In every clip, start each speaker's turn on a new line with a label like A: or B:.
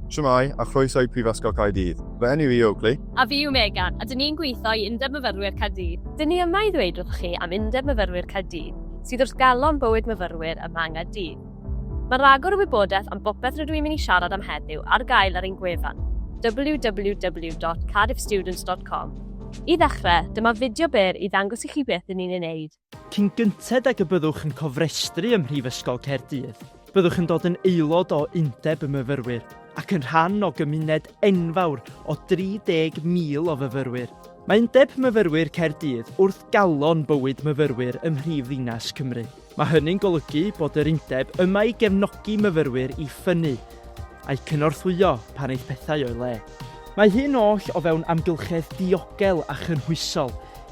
A: Shwmae, a chroeso i Prifysgol Caerdydd. Fy enw i yw Oakley. A fi yw Megan, a dyn ni'n gweithio i Undeb Myfyrwyr Caerdydd. Dyn ni yma i ddweud wrthoch chi am Undeb Myfyrwyr Caerdydd, sydd wrth galon bywyd myfyrwyr ym Mhang a Dydd. Mae rhagor o wybodaeth am bopeth rydw i'n mynd i siarad am heddiw ar gael ar ein gwefan, www.cardiffstudents.com. I ddechrau, dyma fideo byr i ddangos i chi beth dyn ni'n ei wneud. Cyn gynted ag y byddwch yn cofrestru ym Mhrifysgol Caerdydd, byddwch yn dod yn aelod o Undeb y Myfyrwyr ac yn rhan o gymuned enfawr o 30,000 o fyfyrwyr. Mae Undeb Myfyrwyr Caerdydd wrth galon bywyd myfyrwyr ym mhrif ddinas Cymru. Mae hynny'n golygu bod yr Undeb yma i gefnogi myfyrwyr i ffynnu, a'u cynorthwyo pan eith pethau o'i le. Mae hyn oll o fewn amgylchedd diogel a chynhwysol,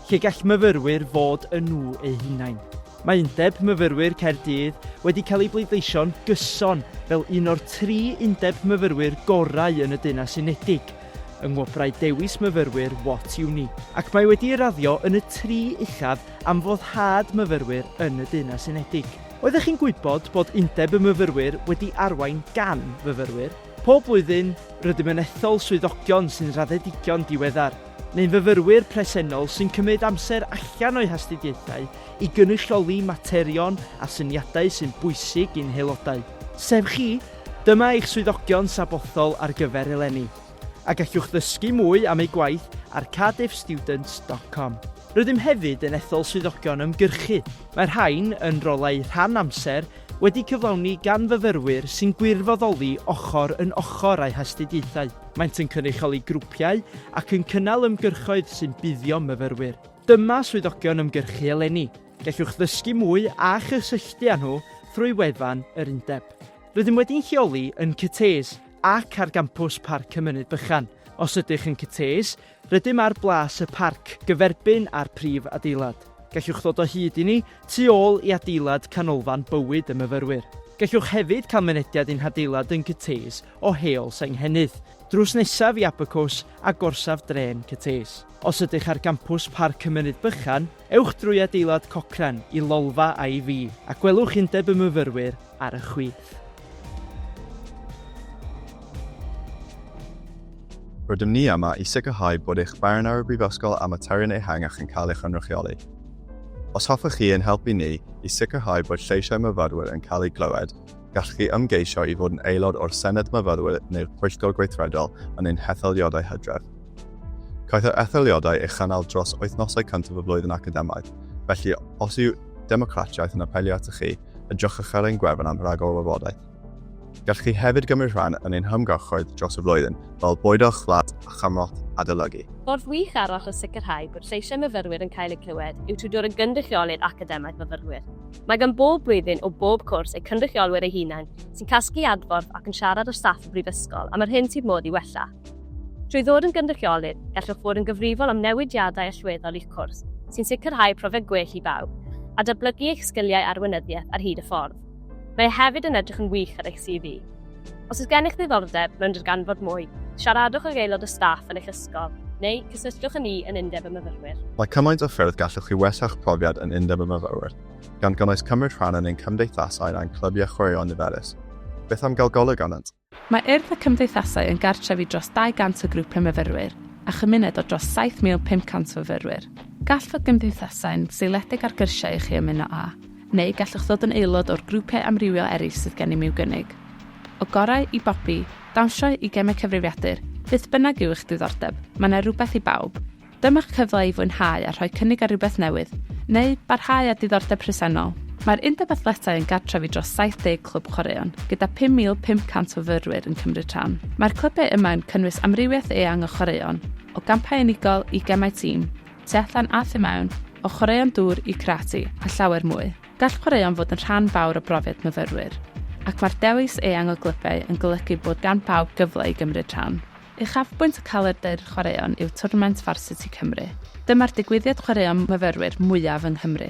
A: lle gall myfyrwyr fod yn nhw eu hunain. Mae Undeb Myfyrwyr Caerdydd wedi cael ei bleidleisio'n gyson fel un o'r tri undeb myfyrwyr gorau yn y Deyrnas Unedig yng Ngwobrau Dewis Myfyrwyr What Uni, ac mae wedi ei raddio yn y tri uchaf am foddhad myfyrwyr yn y Deyrnas Unedig. Oeddech chi'n gwybod bod Undeb y Myfyrwyr wedi arwain gan fyfyrwyr? Pob blwyddyn, rydym yn ethol swyddogion sy'n raddedigion diweddar. neu'n fyfyrwyr presennol sy'n cymryd amser allan o'u hastudiaethau i gynrychioli materion a syniadau sy'n bwysig i'n haelodau, sef chi, dyma eich swyddogion sabothol ar gyfer eleni, a gallwch ddysgu mwy am eu gwaith ar cardiffstudents dot com. Rydym hefyd yn ethol swyddogion ymgyrchu, mae'r rhain yn rolau rhan amser wedi cyflawni gan fyfyrwyr sy'n gwirfoddoli ochr yn ochr â'u hastudiaethau. Maent yn cynrychioli grwpiau ac yn cynnal ymgyrchoedd sy'n buddio myfyrwyr. Dyma swyddogion ymgyrchu eleni. Gellwch ddysgu mwy a chysylltu â nhw thrwy wefan yr Undeb. Rydym wedi'n lleoli yn Cytees ac ar gampws Parc y Mynydd Bychan. Os ydych yn Cytees, Rydym ar blas y parc, gyferbyn â'r prif adeilad. Gallwch ddod o hyd i ni tu ôl i adeilad Canolfan Bywyd y Myfyrwyr. Gallwch hefyd cael mynediad i'n hadeilad yn Cytees o Heol Senghennydd, drws nesaf i Abacws a gorsaf drên Cytees. Os ydych ar gampws Parc y Mynydd Bychan, ewch drwy adeilad Cochrane i lolfa IV a gwelwch Undeb y Myfyrwyr ar y chwith. Rydym ni yma i sicrhau bod eich barn ar y Brifysgol a materion ehangach yn cael ei chynrychioli. Os hoffech chi ein helpu ni i sicrhau bod lleisiau myfyrwyr yn cael eu clywed, gallwch chi ymgeisio i fod yn aelod o'r Senedd Myfyrwyr neu'r Pwyllgor Gweithredol yn ein hetholiadau hydref. Caiff yr etholiadau ei chynnal dros wythnosau cyntaf y flwyddyn academaidd, felly os yw democratiaeth yn apelio atoch chi, yn drochcharcharu ein gwefan am ragor o wybodaeth. Gallwch chi hefyd gymryd rhan yn ein hymgyrchoedd dros y flwyddyn, fel bwydo chwlad a chymorth adolygu. Ffordd wych arall o sicrhau bod lleisiau myfyrwyr yn cael eu clywed yw trwy dod yn gynrychiolydd academaidd myfyrwyr. Mae gan bob blwyddyn o bob cwrs eu cynrychiolwyr eu hunain, sy'n casglu adborth ac yn siarad â staff y Brifysgol am yr hyn sydd modd ei wella. Trwy ddod yn gynrychiolydd, gallwch fod yn gyfrifol am newidiadau allweddol i'ch cwrs, sy'n sicrhau profiad gwell i bawb, a datblygu eich sgiliau arweinyddiaeth ar hyd y ffordd. Mae e hefyd yn edrych yn wych ar eich CV. Os oes gennych ddiddordeb mewn darganfod mwy, siaradwch ag aelod o staff yn eich ysgol, neu cysylltwch â ni yn Undeb y Myfyrwyr. Mae cymaint o ffyrdd gallwch chi wella'ch profiad yn Undeb y Myfyrwyr, gan gynnwys cymryd rhan yn ein cymdeithasau a'n clybiau chwaraeon niferus. Beth am gael golwg arnynt? Mae Urdd y Cymdeithasau yn gartref i dros 200 o grwpiau myfyrwyr a chymuned o dros 7,500 o fyfyrwyr. Gall fod gymdeithasau'n seiliedig ar gyrsiau i chi ymuno â, neu gallwch ddod yn aelod o'r grwpiau amrywiol eraill sydd gennym i'w gynnig. O gorau i bopi, dawnsio i gemau cyfrifiadur, beth bynnag yw eich diddordeb, mae 'na rywbeth i bawb. Dyma'ch cyfle i fwynhau a rhoi cynnig ar rywbeth newydd, neu barhau â diddordeb presennol. Mae'r Undeb Athletau yn gartref i dros 70 clwb chwaraeon, gyda 5,500 o fyrwyr yn cymryd rhan. Mae'r clybiau yma yn cynnwys amrywiaeth eang o chwaraeon, o gampau unigol i gemau tîm, tu allan a thu mewn, o chwaraeon dŵr i karate, a llawer mwy. Gall chwaraeon fod yn rhan fawr o brofiad myfyrwyr, ac mae'r dewis eang o glybiau yn golygu bod gan bawb gyfle i gymryd rhan. Uchafbwynt y calendr chwaraeon yw twrnament Varsity Cymru. Dyma'r digwyddiad chwaraeon myfyrwyr mwyaf yng Nghymru,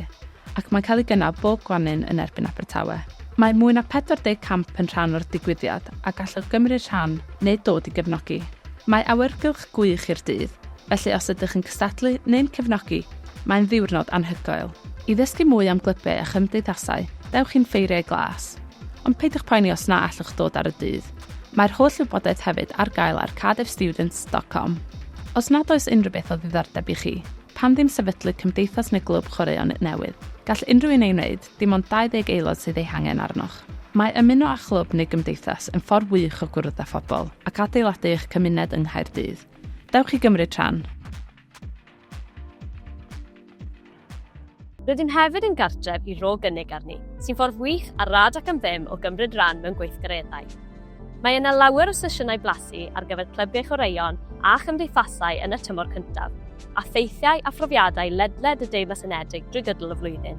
A: ac mae'n cael ei gynnal bob gwanwyn yn erbyn Abertawe. Mae mwy na 40 camp yn rhan o'r digwyddiad a gallwch gymryd rhan neu dod i gefnogi. Mae awyrgylch gwych i'r dydd, felly os ydych yn cystadlu neu'n cefnogi, mae'n ddiwrnod anhygoel. I ddysgu mwy am glybiau a chymdeithasau, dewch i'n Ffeiriau Glas. Ond peidiwch poeni os na allwch ddod ar y dydd. Mae'r holl wybodaeth hefyd ar gael ar cardiffstudents.com. Os nad oes unrhyw beth o ddiddordeb i chi, pam ddim sefydlu cymdeithas neu glwb chwaraeon newydd? Gall unrhyw un ei wneud, dim ond 20 aelod sydd eu hangen arnoch. Mae ymuno â chlwb neu gymdeithas yn ffordd wych o gwrdd â phobl ac adeiladu eich cymuned yng Nghaerdydd. Dewch i gymryd rhan! Rydym hefyd yn gartref i Ro Gynnig Arni, sy'n ffordd wych a rad ac am ddim o gymryd rhan mewn gweithgareddau. Mae yna lawer o sesiynau blasu ar gyfer clybiau chwaraeon a chymdeithasau yn y tymor cyntaf, a theithiau a phrofiadau ledled y Deyrnas Unedig drwy gydol y flwyddyn.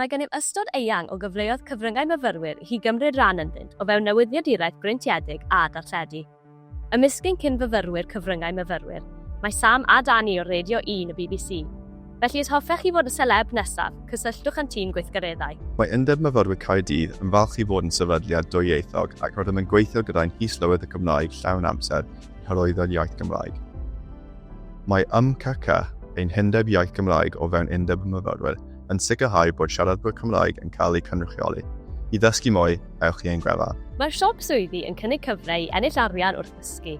A: Mae gennyf ystod eang o gyfleoedd cyfryngau myfyrwyr i chi gymryd rhan ynddynt o fewn newyddiaduraeth breintiedig a darlledu. Ymysg ein cyn-fyfyrwyr cyfryngau myfyrwyr, mae Sam a Dani o Radio Un y bbc. Felly os hoffech chi fod y seleb nesaf, cysylltwch â'n tîm gweithgareddau. Mae Undeb Myfyrwyr Caerdydd yn falch i fod yn sefydliad dwyieithog ac rydym yn gweithio gyda'n His-lywydd y Gymraeg llawn amser i hyrwyddo'r iaith Gymraeg. Mae YMCCA, ein hundeb iaith Gymraeg o fewn Undeb y Myfyrwyr, yn sicrhau bod siaradwyr Cymraeg yn cael eu cynrychioli. I ddysgu mwy, ewch i ein gwefan. Mae'r siop swyddi yn cynnig cyfle i ennill arian wrth ddysgu.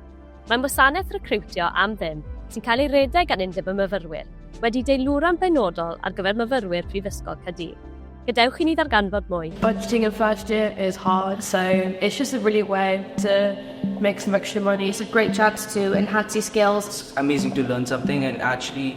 A: Mae'n wasanaeth recriwtio am ddim sy'n cael ei redeg gan Undeb y Myfyrwyr, wedi deilwra'n benodol ar gyfer myfyrwyr Prifysgol Caerdydd. Gadewch i ni ddarganfod mwy. Budgeting in first year is hard, so it's just a really way to make some extra money. It's a great chance to enhance your skills. It's amazing to learn something and actually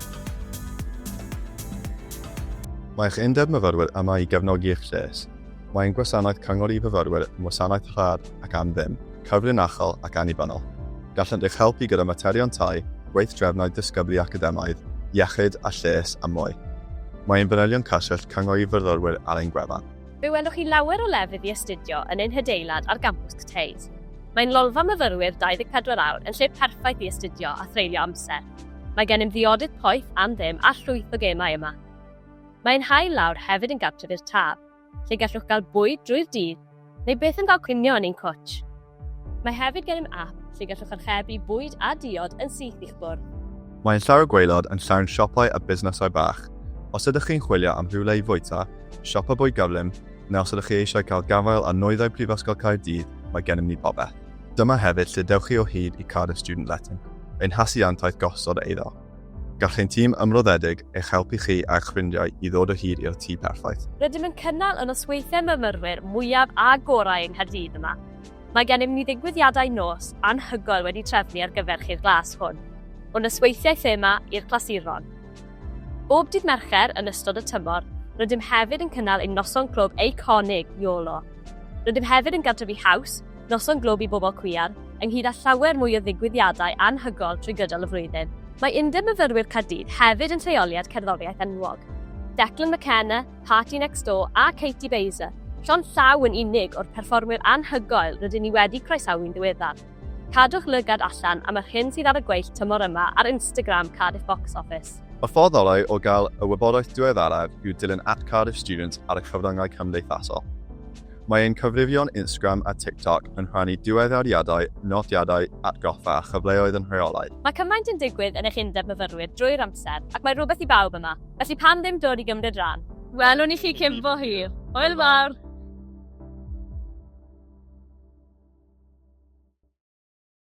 A: Mae eich Undeb Myfyrwyr yma i gefnogi eich lles. Mae ein gwasanaeth cyngor i fyfyrwyr yn wasanaeth rhad ac am ddim, cyfrinachol ac annibynnol. Gallent eich helpu gyda materion tai, gweithdrefnau disgyblu academaidd, iechyd a lles a mwy. Mae ein fanylion cyswllt cyngor i fyfyrwyr ar ein gwefan. Fe welwch chi lawer o lefydd i astudio yn ein hadeilad ar gampws CTAs. Mae'n lolfa myfyrwyr 24 awr yn lle perffaith i astudio a threulio amser. Mae gennym ddiodydd poeth am ddim a llwyth o gemau yma. Mae ein hail lawr hefyd yn gartref i'r Taf, lle gallwch gael bwyd drwy'r dydd neu byth yn cael cinio yn ein cwtsh. Mae hefyd gennym ap lle gallwch archebu bwyd a diod yn syth i'ch bwrdd. Mae ein llawr gwaelod yn llawn siopau a busnesau bach. Os ydych chi'n chwilio am rhywle i fwyta, siopa bwyd gyflym, neu os ydych chi eisiau cael gafael ar nwyddau Prifysgol Caerdydd, mae gennym ni bopeth. Dyma hefyd lle dewch chi o hyd i Cardiff Student Letting, ein hasiantaeth gosod eiddo. Gall ein tîm ymroddedig eich helpu chi a'ch ffrindiau i ddod o hyd i'r tŷ perffaith. Rydym yn cynnal y nosweithiau myfyrwyr mwyaf a gorau yng Nghaerdydd yma. Mae gennym ni ddigwyddiadau nos anhygoel wedi trefnu ar gyfer chi'r glas hwn, o nosweithiau thema i'r clasuron. Bob dydd Mercher yn ystod y tymor, rydym hefyd yn cynnal ein noson clwb eiconig, YOLO. Rydym hefyd yn gartrefu haws, Noson Glwb i Bobl Cwiar, ynghyd â llawer mwy o ddigwyddiadau anhygoel trwy gydol y flwyddyn. Mae Undeb Myfyrwyr Caerdydd hefyd yn lleoliad cerddoriaeth enwog. Declan McKenna, Party Next Door a Katie Baser, llond llaw yn unig o'r perfformwyr anhygoel rydyn ni wedi croesawu yn ddiweddar. Cadwch lygad allan am yr hyn sydd ar y gweill tymor yma ar Instagram Cardiff Box Office. Y ffordd orau o gael y wybodaeth diweddaraf yw dilyn at Cardiff Students ar y cyfryngau cymdeithasol. Mae ein cyfrifion Instagram a TikTok yn rhannu diweddariadau, nodiadau, atgoffa a chyfleoedd yn rheolaidd. Mae cymaint yn digwydd yn eich Undeb Myfyrwyr drwy'r amser, ac mae rhywbeth i bawb yma, felly pam ddim dod i gymryd rhan? Welwn i chi cyn bo hir! Hwyl fawr!